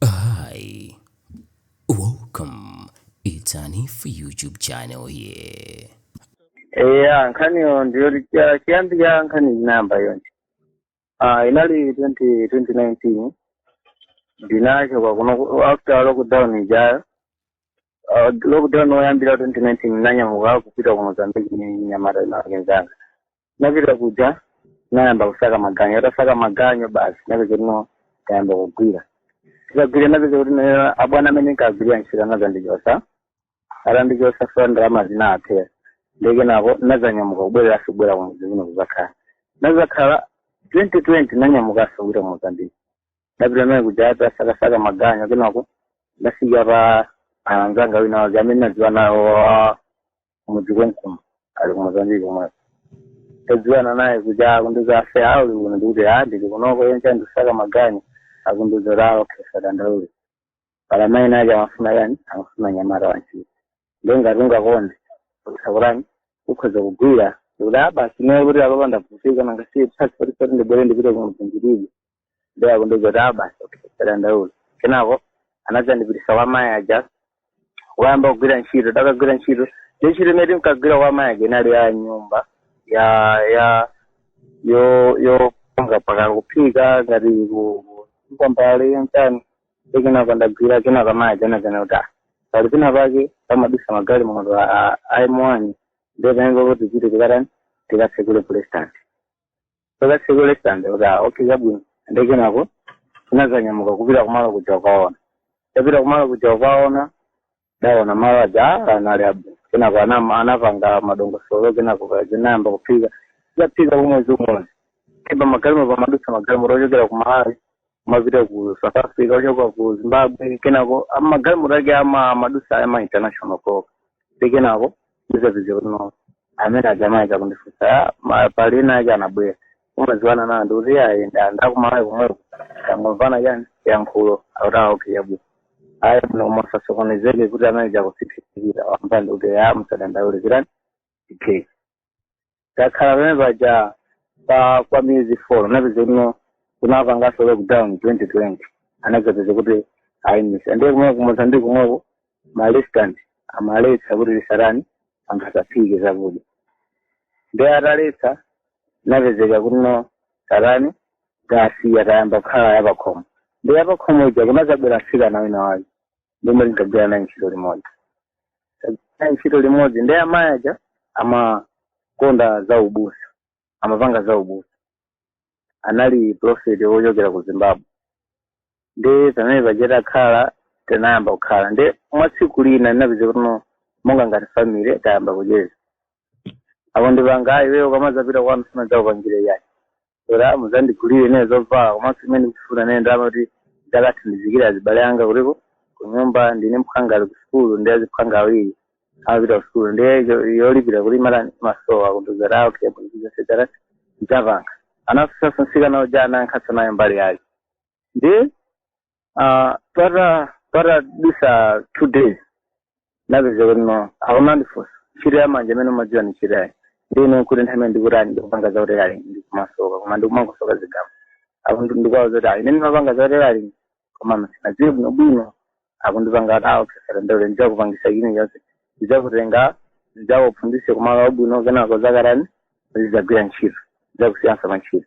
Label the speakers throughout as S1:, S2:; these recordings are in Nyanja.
S1: Hi, welcome. It's an if YouTube channel here. eya
S2: nkhaniyo ndiyo licha- chiyambi cha nkhani inayamba chonchi ah inali 20 2019 ndinachoka kuno ku- after lockdown ijayo Ah, lockdown oyambira 2019 ndinanyamuka kupita ku mozambique ndi mnyamata wina wake mnzanga napita kuja nayamba kusaka maganyo nditasaka maganyo basi napeza kuti no tayamba kugwira tikagwira napeza kuti nayo abwana amene nkagwirira ntchito anazandichosa atandichosa chifukwa ndalama zinawathera nde kenako nazanyamuka kubwerera kubwera kumudzi kuno kuzakhala nazakhala 2020 nanyamukaso kupita mozambiki napita naye kuja ndasakasaka maganyo kenako ndafika pa anzanga wina wake amene nadziwa nawo wa- kumudzi konkuno ali kumozambiki komweko tadziwana naye kuja akundiuza ase uli kuno ndikuti a ndili kunoko yense ndikusaka maganyo akundiuza kuti a okay usadandaule pali mayi enaake amafuna chani amafuna mnyamata wantchito ndiye ngati ungakonde usakulani ukhoza kugwira ndikuti a basi naye kuti apapa ndavutika nangasiye transport yoti ndibwere ndipite kumudzi ndilibe ndiye akundiuza kuti a basi okay usadandaule kenako anadzandipitisa kwa mayi aja kuyamba kugwira ntchito takagwira ntchito ndi ntchito imene timkagwira kwa mayi aja inali ya nyumba ya ya yo yo panga paka kuphika ngati ku- ku- kwambali mtani ndi kenako ndagwira kenako mayi aja anadzanena kuti ah pali pina pake pamadutsa magalimoto a m1 ndiye pamene papo tichite tikatani tikatsekule restaurant tikatsekule restaurant kuti ah, okay zabwino ndi kenako tinazanyamuka kupita kumalo kuja kukaona tapita kumalo kuja kukaona taona malo aja ah, anali abwino kenako anam- anapanga madongosolo kenako pa- tinayamba kuphika taphika kumwezi umodzi ipa magalimo pamadutsa magalimoto ochokera ku malawi kumapita ku south africa ochoka ku zimbabwe kenako ah, magalimoto ake ama madusa ama international proka ndi kenako ndizapeza kuti no amene aja anayamba kundifunsa "Ah, ma- pali ena ake anabwera umaziwana nawo ndikuti ayi ndi a ku malawi komweko tangomvana chani chiyankhulo akuti a okay chabwino ayi muno musasokonezeke kuti amene aja akutiphikira wamva ndikuti a musadandaule chirani okay takhala pamene paja pa kwa miyezi four napeza kuno kunapanganso lockdown twenty twenty anakapeza kuti ayimisa ndiye kumwe kumozambiki kumweko ma restaurant amaletsa kuti lisarani anthu asaphike zakudya ndiye ataletsa napezeka kuno sarani basi tayamba kukhala yapakhomo ndiye yapakhomo ija kunazabwera mtsikana wina wake lomwe linkagwira naye ntchito limodzi naye ntchito limodzi ndiye amayi aja amakonda za ubusa amapanga za ubusa anali profeti wochokera ku zimbabwe ndiye pamene paja takhala tinayamba kukhala ndiye mwina tsiku lina ndinapeza kuti no monga ngati family tayamba kucheza akundipanga iweyo ukamazapita kwanu sindizakupangira yayi ola musandigulire ine zovala komanso imene ndikufuna ine ndama kuti ndakathandizikira azibale anga kuliko kunyumba ndi mphwanga ali kusukulu ndiye aziphwanga awiri amapita kusukulu ndiye yo- yolipira kuti mara amasowa kundiuza tawo okay usadandaule ndidzapanga anamufusaso nsikana uja anayankhaso naye mbali yake ndi Ah, pata patadutsa two days napeza kuti no akumandifunsa ntchito ya manja imene umadziwa ni ntchito yanji ndine nkuti nthawi imene ndikutani ndikupanga za utelali ndikumasoka koma ndikumangosoka zigamba apo ndi- ndikuwauza zoti ayi ine ndimapanga za utelali koma sinadziwe bwino bwino akundipanga kuti okay usadandaule ndidzakupangisa china chonse ndidzakutenga ndidzakuphunzise kumalo abwino kenako uzakatani uzidzagwira ntchito ndidzakusiyansa pa ntchito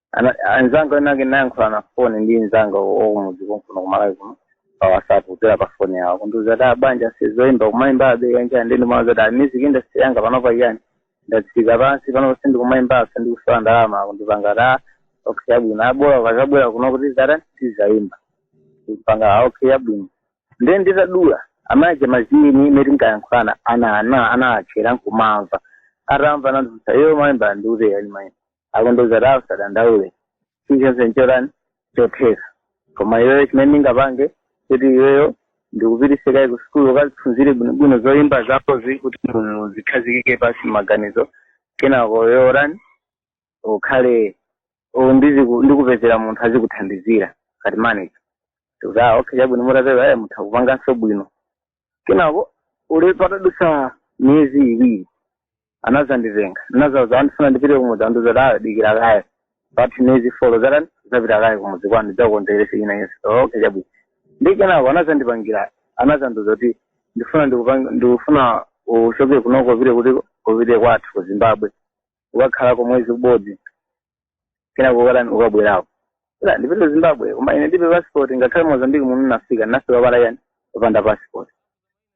S2: Ana- anzanga enake nayankhula na foni ndi nzanga wakumudzi konkuno kumalawi kuno pa whatsapp kudzera pa foni yawo kundiuza kuti bwanji zoimba kumaimba be yani yani ndiye ndimawauza kuti music industry yanga panopa yani ndatsika pansi panopa sindikumaimba sindikusowa ndalama kundipanga ta okay chabwino bola ukazabwera kuno kuti zatani tizaimba ndikupanga ah, okay chabwino ndiye nditadula amayi aja nthawi imene tinkayankhulana ana ana anatchera nkumamva atamva nandiuza iwe umaimba ndiuze ya ndimaimba akundiuza tawo usadandaule chilichonse nchotani chotheka koma iweyo chimene ndingapange kuti iweyo ndikupitise kaye ku sukulu ukaziphunzire bwinobwino zoyimba zakozi kuti mu- zikhazikike pasi maganizo kenako yorani ukhale u- ndiziku- ndikupezera munthu azikuthandizira ngati manager ndikuti ah okay chabwino mutatero eh mutha kupanganso bwino kenako ule patadutsa miyezi iwiri anazanditenga nazawauza ndifuna ndipite kumudzi andiuza tayo dikira kaye pathe miyezi folo zatani uzapita kaye kumudzi kwanu ndidzakukonzekerese ine ndiye okay chabwino ndiye kenako anazandipangira anazandiuza kuti ndifuna ndikupang- ndikufuna uchoke kunoko upite kuti upite kwathu ku zimbabwe ukakhalako mwezi ubodzi kenako ukatani ukabwerako ila ndipite zimbabwe koma ine ndibe passport ngakhale mozambique muno nafika nafika pala yani opanda passport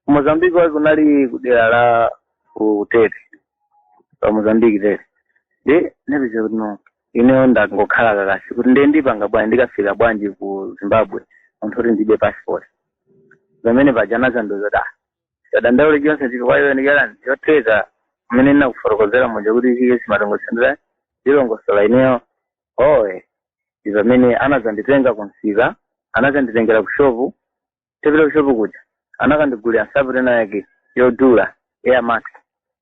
S2: mozambique wake unali kudera la kutete pa mozambique tete ndiye napeza kuti no ineyo ndangokhala kakasi kuti ndiye ndipanga bwanji ndikafika bwanji ku zimbabwe munthu kuti ndibe passport pamene pajana anazandiuza kuti sadandaule chonse chili kwa ine chilichani chotheka kumene ndinakufotokozera muja kuti chikhale sumatongotsendera ndilongosola ineyo oye ndi pamene anadzanditenga ku msika anadzanditengera ku shopu tapita ku shopu kuja anakandigulira nsapato ina yake yodula air max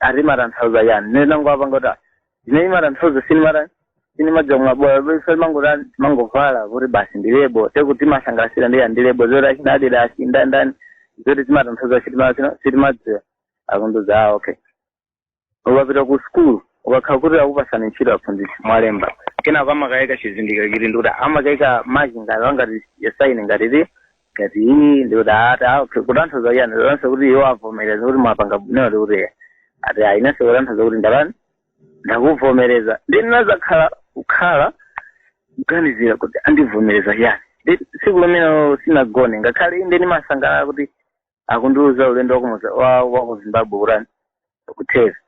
S2: ati imatanthauza chani ndiye ine ndangowapanga kuti ah, zimene imatanthauza sinimata sinimadziwa mwabola basi timangoti timangovala kuti basi ndi lebo ndikuti timasangalasira ndi ndi lebo zoti achina adidas achi ndani ndani zoti zimatanthauza sitima- sino- sitimadziwa akundiuza ah okay ukapita ku skulu ukakhala kuti akupatsani ntchito aphunzitsi mwalemba kenako amakayika chizindikiro chili ndikuti amakayika maki ngati angati yasaini ngati ti ngati iyi ndikuti ati ah, okay, kutanthauza chani kutanthauza kuti iwo avomereza kuti mwapanga bwino ndikuti eh, ati ah, inenso kutanthauza kuti ndalani ndakuvomereza nde ndinazakhala kukhala kuganizira kuti andivomereza chani ndi tsiku limene sinagone ngakhale inde ndimasangalala kuti akundiuza ulendo wakumuza wa wa ku zimbabwe kutani kutheka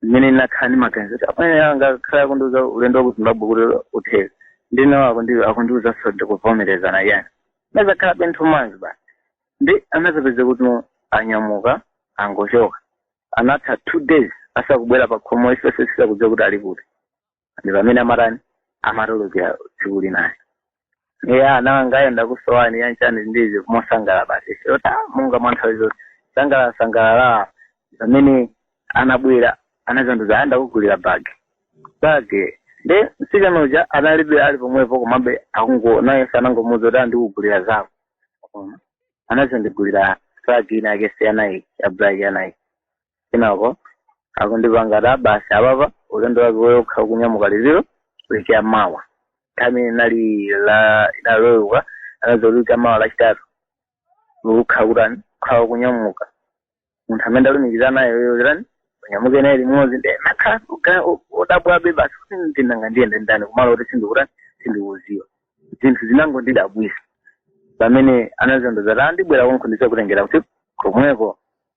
S2: nde ndinakhala ndi maganizo kuti amene angakhala akundiuza ulendo wa ku zimbabwe kuti utheke ndi awa akundi- akundiuzanso ndakuvomereza nanga chani nazakhala penthu madzi basi nde anazapezeka kuti anyamuka angochoka anatha two days asakubwera pa khomo ifeso osadziwa kuti ali kuti ndi pamene amatani amatulukira tsiku linayo iye nanga ankolo kusowa ndi chani ndizikumusangalalira basi yota monga mwa nthawi zonse sangala sangalala pamene anabwera anazandiuza ati ndakugulira bagi bagi ndi mtsikana uja anabwera ali pomwepo komabe ankolo naye sanangomuza kuti andikugulira zako Ona. anazandigulira bagi ina yake ya nike ya black ya nike kenako akundipanga ati basi apapa ulendo wako ukhala ukunyamuka liti liti mawa nthawi imene inali la ina lolemba anazati mawa lachitatu ukhala ukutani ukhala ukunyamuka munthu amene ndakulumikiza naye iyeyo kutani unyamuke naye limodzi nde nakhala kuga wodabwabe basi kuti nanga ndiyende ndi ndani kumalo kuti sindikutani sindikuziwa zinthu zinangondidabwisa pamene anazandiuza ati ndibwera konko ndizakutengera kuti komweko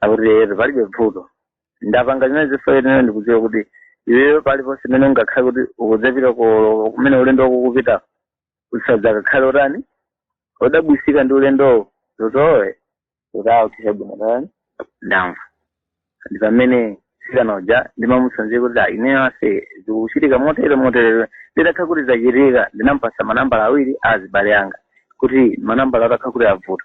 S2: akuti eyetu palibe vuto ndapanga zimene zili zoyenera ndikudziwa kuti iweyo paliponse imene ungakhale kuti ukudzapita ku- kumene ulendo wako ukupita usadzakakhale utani udabwitsika ndi ulendowo zoti iwe udautira bwino tani ndamva ndi pamene mtsikana uja ndimamutsanzika kuti "Ah, ineyo ase zikuchitika motere motere zitakhala kuti zachitika ndinampatsa manambala awiri a azibale anga kuti manambala atakhala kuti zavuta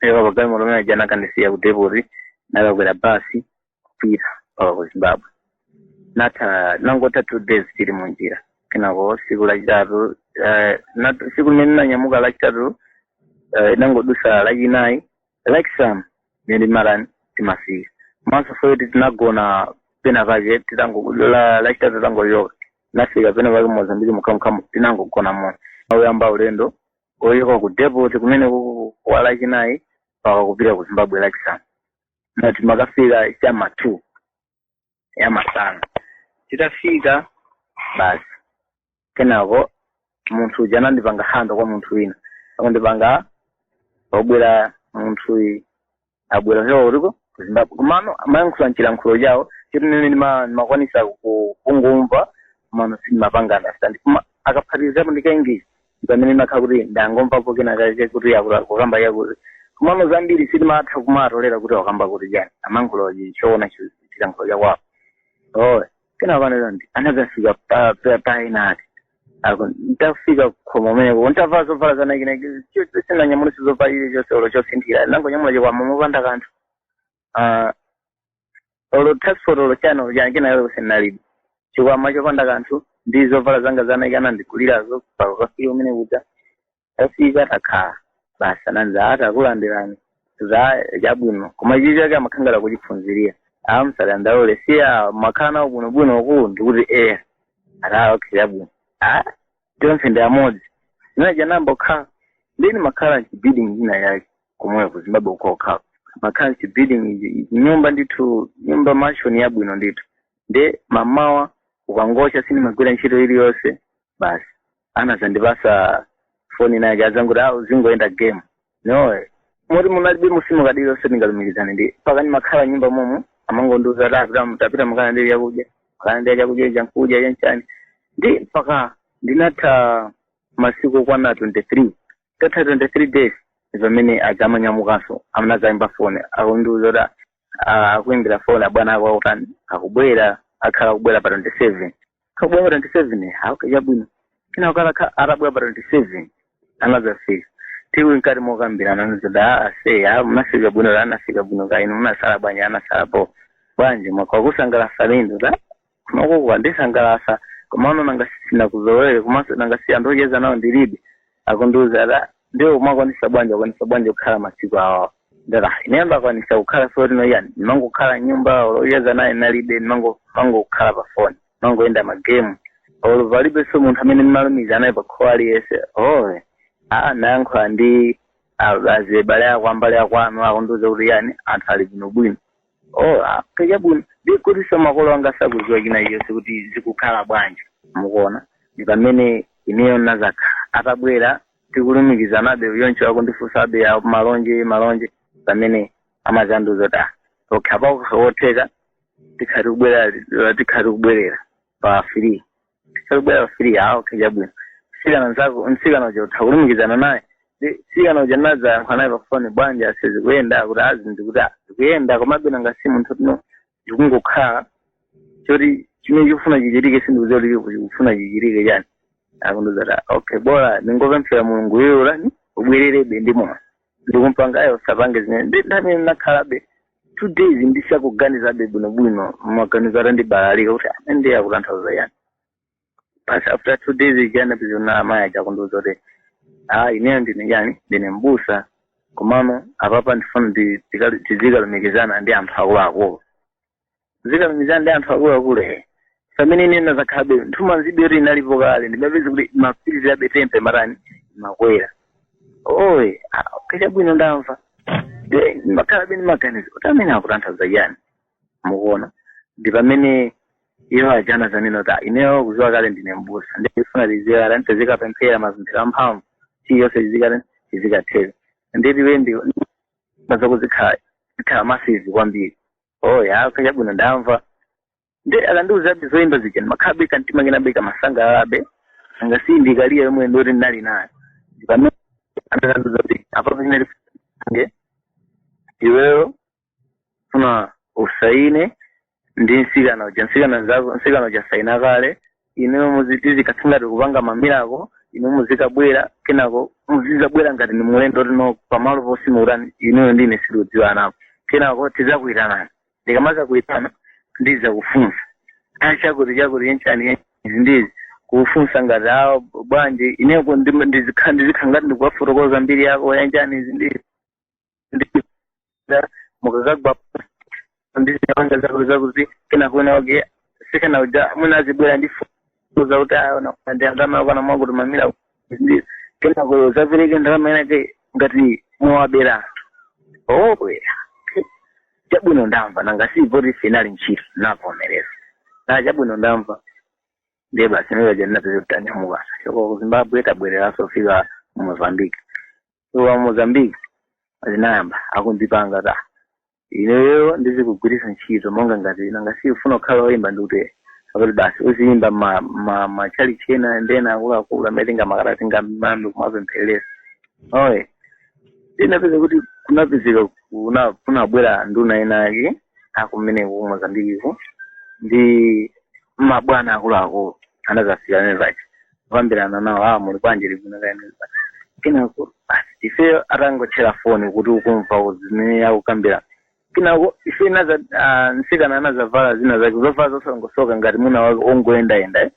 S2: choka pagalimoto omwe aja anakandisiya ku depoti nakakwera basi kupita mpaka ku zimbabwe natha nangotha two days tili mu njira kenako siku lachitatu eh, nat- siku limene nanyamuka lachitatu eh, inangodusa lachinayi lachisanu mene marani timafika maso foyoti tinagona pena pake titango la- lachitatu tangochoka nafika pena pake mozambiki mukhamukhamu tinangogona mmawa kuyamba ulendo ochoka ku depot kumeneku kwa lachinayi mpaka kupita ku zimbabwe lachisanu nde timakafika chama two ya masana titafika basi kenako munthu uja anandipanga handover kwa munthu wina akundipanga obwera munthu uyu abwera kuchoka kutiko ku zimbabwe komano amayankhula mchilankhulo chawo choti ine ndima- ndimakwanisa ku- kungomva komano sindimapanga understand koma akaphatikizapo ndi ka English pamene ndimakhala kuti ndangomvapo kena kake kuti akula- kukamba chakuti komano zambiri sindimatha kumatolera kuti wakamba kuti chani amayankhula Chishona chi- chilankhulo chakwawo okay kenako panera ndi anazafika pa- pa- paena ati Ako, ntafika khomo meneko ntavala zovala zanakinaki sinanyamulenso zovala chilichonse olo chosinthira nangonyamula chikwama mopanda kanthu Ah, olo transport olo chani kena kalikonse nalibe chikwama chopanda kanthu ndi zovala zanga zanaika anandigulirazo pokafika kumene kuja tafika takhala basi anazati takulandirani za chabwino koma ichi chake amakhala ngati akuchiphunzirira ah musadandaule siya makhala nawo bwinobwino uku ndikuti eya ah okay chabwino a tonse ndi amodzi zina ja nayamba kukhala nde ndimakhala mchibuilding ina yake komwe ku zimbabwe uko okhala ndimakhala mchibuilding nyumba ndithu nyumba mansion yabwino ndithu nde mamawa kukangocha sindimagwira ntchito iliyonse basi anazandipasa foni inayake azanguti a uzingoyenda game no moti munalibe sim card iliyonse ndingalumikizane mpaka ndimakhala nyumba momo amangondiuza kuti apita tapita mukana ndi chakudya mukana ndi chakudya chankudya chanchani ndi mpaka ndinatha masiku okwana 23 tatha 23 days pamene adzamanyamukanso mmene adzayimba foni akundiuza kuti ah, akuimbira foni abwana ako akutani akubwera akhala akubwera pa 27 kubwera pa 27 ah okay chabwino kina kala ka atabwera pa 27 anazafika tili nkati mokambirana anazati ase ya munafika bwino ah nafika bwino kaya inu munasala bwanji ah nasala po bwanji mwaka kusangalasa lindo da kunoko kwandisangalasa komano nanga sinakuzolowere komanso nanga si anthu ocheza nawo ndilibe akundiuza ati "Ah, ndiwe umakwanisa bwanji akwanisa bwanji kukhala masiku awawa ndati "Ah, ine ndakwanisa kukhala soti noyani ndimangokhala nyumba olo ocheza naye nalibe ndimango- ndimangokhala pa foni ndimangoyenda magemu olo palibenso munthu amene ndimalumiza naye pakhowa aliyense owe aa nayankhula ndi a- azibale ako ambale akwanu akundiuza kuti yani anthu ali bwinobwino oh ah, okay chabwino ndi kutinso makolo anga sakuziwa china chonse kuti zikukhala bwanji mukuona ndi pamene ineyo nazakhala atabwera tikulumikizanabe choncho akundifunsabe a- malonje malonje pamene amazandiuza kuti ah, okay apakusa wotheka tikhati kubwerera tikhati kubwerera pa free sikubwera pa free ah okay chabwino mtsikana nzako mtsikana uja utha kulumikizana naye Ndi mtsikana uja nadzayankha naye pafoni bwanji ase zikuyenda kuti azi ndikuti "Ah, zikuyenda komabe nanga si munthu tino zikungokhala choti chimene chikufuna chichitike sindikuziwa kuti chikufuna chikufuna chichitike chani akundiuza ati okay bola ndingopemphera mulungu iweyo utani ubwererebe ndi moyo ndikumpangayo usapange zimene ndi pamene nakhalabe two days ndisakuganizabe bwinobwino maganizo atandibalalika kuti amene akutanthauza yani basi after two days ijana pizona amayi aja akundiuza kuti ah ineyo ndine yani ndine mbusa komano apapa ndifuna ndi- tikali- tizikalumikizana ndi anthu akuluakulu zikalumikizana ndi anthu akuluakulu he pamene ine nazakhalabe nthumanzibe yoti inalipo kale ndimapeza kuti mapirizi abe tempe matani makwera okay chabwino ndamva Ndiye ndimakhalabe ndi maganizo kuti amene akutanthauza chani mukuona ndi pamene iwo aja anazanena kuti "Ah, ineyo kuziwa kale ndine mbusa ndifuna liziwa kale tizikapemphera mapemphero amphamvu chilichonse chizikale chizikathera ndeti wendi mazakuzikhala zikhala masizi kwambiri oh ya okay chabwino ndamva nde akandiuzabe zoyimba zija ndimakhalabe kantima kenabe kamasangalalabe nanga si ndi career yomwe ndoti ndinali nayo ndipamene akandiuza kuti apapo chimene tipange iweyo funa usaine ndi nsikana uja nsikana nzako nsikana uja saina kale ineyo muzi- tizikakhala ngati tikupanga mamirako inu muzikabwera kenako muzizabwera ngati ni mulendo tino pamalo posi mukutani inuyo ndi ine sitikudziwanapo kenako tizakuyitanani ndikamaza kuyitana ndizakufunsa ayi chakuti chakuti yenchani izi ndizikufunsa ngati awo bwanji ineko ndizikhala ngati ndikuwafotokoza mbiri yako yenchani izi ndizi ndida mukakagwa ndi ziwanda zako zakuti kenako ena wake mtsikana uja mwina azibwera ndi foni zakuti ayi na ndi ndalama yako na mwangu tumamira ndi kenako azapereke ndalama yake ngati mwawabera owe chabwino ndamva nanga si poti inali ntchito ndavomereza da chabwino ndamva ndiye basi ndiye ndinapeza kutanyamuka kuchoka ku zimbabwe tabwereranso fika mu mozambique wa mozambique anayamba kundipanga ta ineyo ndizikugwiritsa ntchito monga ngati nanga si umafuna kukhala woyimba ndikuti akuti basi uziyimba ma- ma- matchalitchi ena ndi ena akuluakulu amene tingamakate tingamayambe kumapempherera eya ndinapeza kuti kunapezeka kuna- kunabwera nduna zina zake zakumeneko ku mozambiqueko ndi mabwana akuluakulu anazafika pachi kukambirana nawo a muli bwanji ndili bwino kaya zina kenako basi ifeyo tangotchera foni kuti ukumva zimene akukambirana kenako ife tinaza ah, mtsikana anazavala zina zake zovala zosalongosoka ngati munthu wake ongoyendayenda eh.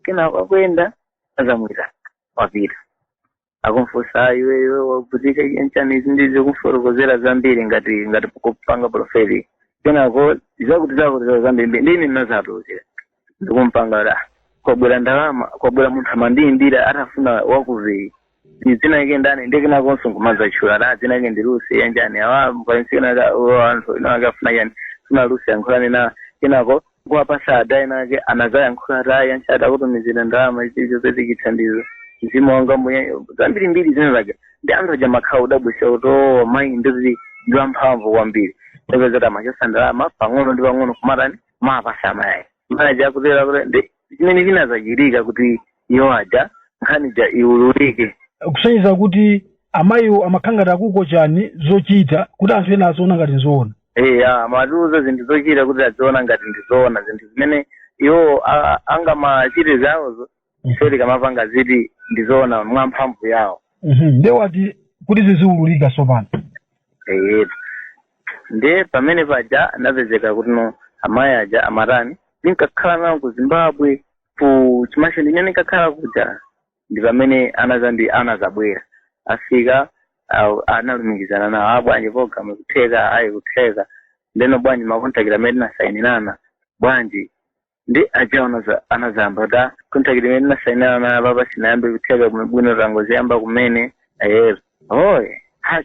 S2: kenako akuyenda anazamuitana wapita akumfunsa "Ah, iwe iwe wavutika nchani izi ndikumufotokozera zambiri ngati ngati kupanga profeti kenako zakuti zakuti za zambiri ndiye anazatulukira ndikumpanga da kwabwera ndalama kwabwera munthu amandiyimbira atafuna wa ku UK ni dzina lake ndani ndi kenakonso nkumadzatchula da dzina lake ndi lusi yanjani awa mkainsikana anthu ino akafuna yani sina lusi yankhulani na kenako Nkuwapasa ada ena ake anazayankhula ati ayi chabwino takutumizira ndalama izi uzapeze chithandizo mzimu wanga mbuye zambiri mbiri zina zake ndi anthu aja amakhala odabwisika kuti o mayi ndithu ndi wamphamvu kwambiri ndinapeza kuti amachosa ndalama pang'ono ndi pang'ono kumatani kumapasa amayi mayi aja kutereko kuti ndi chimene chinazachitika kuti iwo aja nkhani ja iwululike kusonyeza kuti
S3: amayiwo amakhala ngati akukocha zochita kuti anthu ena aziona ngati nzoona eya amatiuza zinthu zochita kuti aziona ngati ndizoona zinthu zimene iwo a- angamachite zawozo ife tikamapanga zizikhala ndizoona mwa mphamvu yawo Mhm. nde apa kuti ziziwululika tsopano
S2: eyetu ndiye pamene paja anapezeka kuti no amayi aja amatani ndinkakhala nawo ku zimbabwe ku chimasho ndine ndinkakhala kuja ndi pamene anaza ndi anazabwera afika aa analumikizana nawo a bwanji program kutheka ayi kutheka ndeno bwanji makontakiti amene tinasayinirana bwanji ndi aja anaza- anazayamba ta kontakiti imene tinasayinirana nayo paja sinayambe kutheka bwino- bwino tangoziyamba kumene eya oo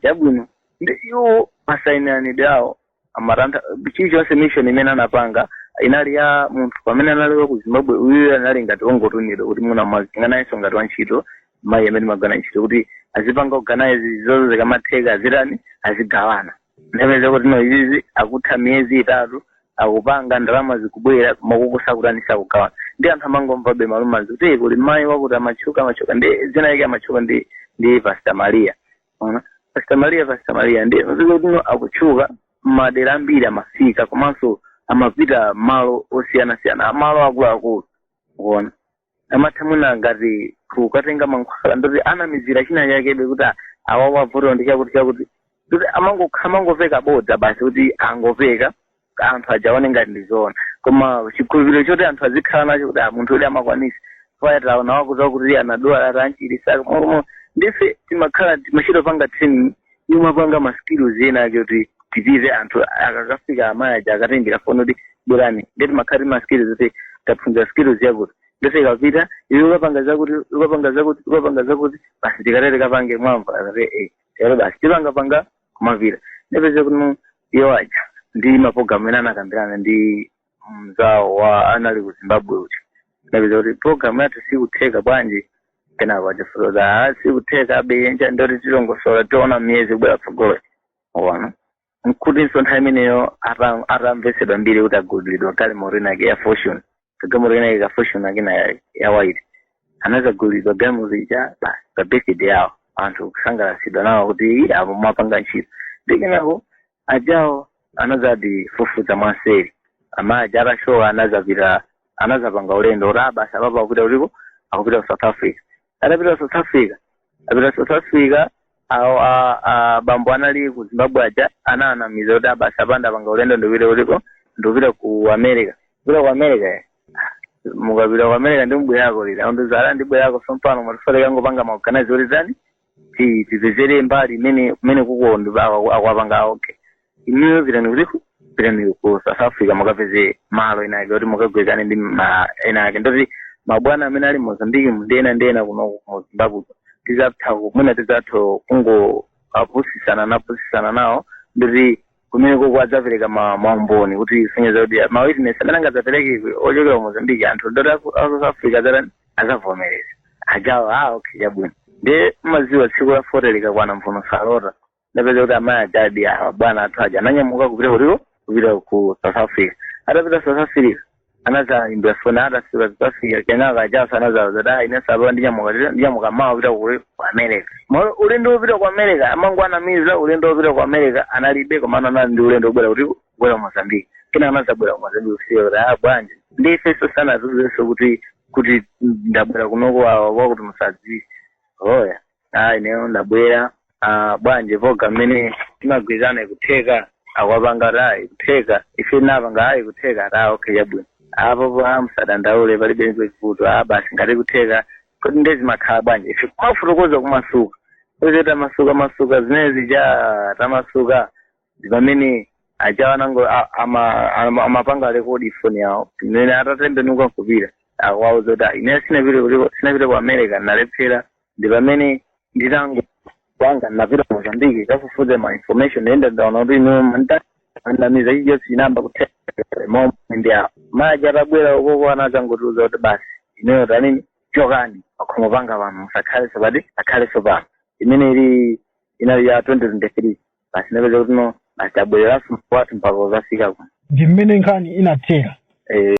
S2: chabwino ndi iwo masainiranidwe awo amathandiza chilichonse mission imene anapanga inali ya munthu pamene anali wa ku zimbabwe uyu anali ngati ongotumidwa kuti muna mwazinga nayenso ngati wantchito mayi amene anagawana ntchito kuti azipanga organize zonse zikamatheka azitani azigawana ndapeza kuti no izizi akutha miyezi itatu akupanga ndalama zikubwera akukusa kutani osagawana ndi anthu amangomvabe ma rumours kuti "Eh, kuli mayi wakuti amatchuka amatchuka ndi dzina lake amatchuka ndi ndi pasta maria Ona, Pastor Maria Pastor Maria ndi kuti no akutchuka madera ambiri amafika komanso amapita malo osiyana siyana malo akuluakulu kuona amatha mwina ngati kukatenga mankhwala ndoti anamizira china chake be kuti a- apapa vuto ndi chakuti chakuti kuti amangokha amangopeka bodza basi kuti angopeka anthu aja aone ngati ndi zoona koma chikhulupiriro choti anthu azikhala nacho kuti ah, munthu uyu amakwanisa paja taona wakuti wakuti anadwala atamchiritsa momo ndife timakhala timachita panga training timapanga ma skills ena ake kuti tipize anthu akakafika amayi aja akatengera foni kuti bwerani nde timakhala tima skills kuti taphunzira skills yakuti ndiye tikapita iwe ukapanga zakuti ukapanga zakuti ukapanga zakuti basi tikatere tikapange mwamva akati eh lero basi tipangapanga kumapita ndapeza kuti iwo aja ndi mapulogalamu amene anakambirana ndi mzawo wa anali ku zimbabwe kuti ndapeza kuti pulogalamu yathu sikutheka bwanji kenako akafotokoza "Ah, sikutheka abeyenja ndoti tilongosola tiona miyezi kubwera tsogolo ona nkutinso nthawi imeneyo ata- atamvesedwa mbiri kuti agulidwa kale galimoto inayake ya Fortuner kagalimoto kena kake ka Fortuner kena ya- ya white anadzagulidwa galimoto ija basi pa birthday yawo anthu kusangalatsidwa nawo kuti "Ii, apo mwapanga ntchito ndi kenako ajawo anadzati fufuza mwanseri amayi aja atasowa anadzapita anadzapanga ulendo kuti ah basi apapa akupita kutiko akupita ku south africa atapita south africa apita south africa awo a- a- bambo anali ku zimbabwe aja anawanamiza kuti ah basi apanga apanga ulendo ndikupita kutiko ndikupita ku america kupita ku america eh. mukapita ku america ndiye mubwerako liti akundiuza ah ndibwerako sompano ndafuna ndikangopanga maorganize kuti tani ti- tipezere mbali imene kumeneko ndi- akwa- akwapanga okay inuyo pitani kutiko pitani ku south africa mukapeze malo ena ake kuti mukagwirizane ndi ma ena ake ndoti mabwana amene ali mozambiki ndi ena ndi ena kuno ku zimbabwe tizatha kumwina tizatha kungopusisana napusisana nawo ndoti kumeneko kwadzapereka ma- maumboni kusonyeza kuti ma witness amene angadzapereke ochokera ku mozambiki anthu ndoti aku aku south africa adzatani adzavomereza ajawo a okay chabwino ndiye mukudziwa tsiku la fote likakwana mvuno salota ndapeza kuti amayi ajadi awa bwana athu aja ananyamuka kupita kutiko kupita ku south africa atapita south africa anadzaimbira foni atafika south africa kenaka ajaso anadzawauza kuti ayi nesapa ndinyamuka ndinyamuka mawa kupita ku ku america pomwe ulendo wopita ku america amangowanamiza ulendo wopita ku america analibe komano anali ndi ulendo wobwera kuti kubwera mozambique kenaka anazabwera mozambique kusiya kuti ah bwanji ndi ifenso sanatiuzenso kuti kuti ndabwera kunoko awa wakuti musadziwe oya ah ineyo ndabwera ah bwanji poona mmene timagwirizirana ikutheka akwapanga ta ikutheka ife napanga ayi kutheka ta okay yabwino apo pa musadandaule palibe vuto ah basi ngati ikutheka kodi ndezi mumakhala bwanji ife kumafotokoza kumasuka titamasuka masuka zinazija tamasuka ndi pamene aja anango a- ama- ama- amapanga rekodi foni yawo imene atatembenuka kupita kukawauza zoti ine sinapite kuliko- sinapite ku america ndalephera ndi pamene nditangopanga ndinapita ku mozambiki kukafufuza ma information enda ndaona kuti ino amatinamiza icho sizinatheke momwe ndi apo amayi aja atabwera kunoko anadzangotiuza kuti basi ineyo tanini chokani pakhomo panga pano musakhalenso asakhalenso pano imene ili inali ya 2023 basi ndapeza kuti no basi tabwereranso kwathu mpaka
S3: kudzafika
S2: kuno ndi mmene
S3: nkhani
S2: inathera eh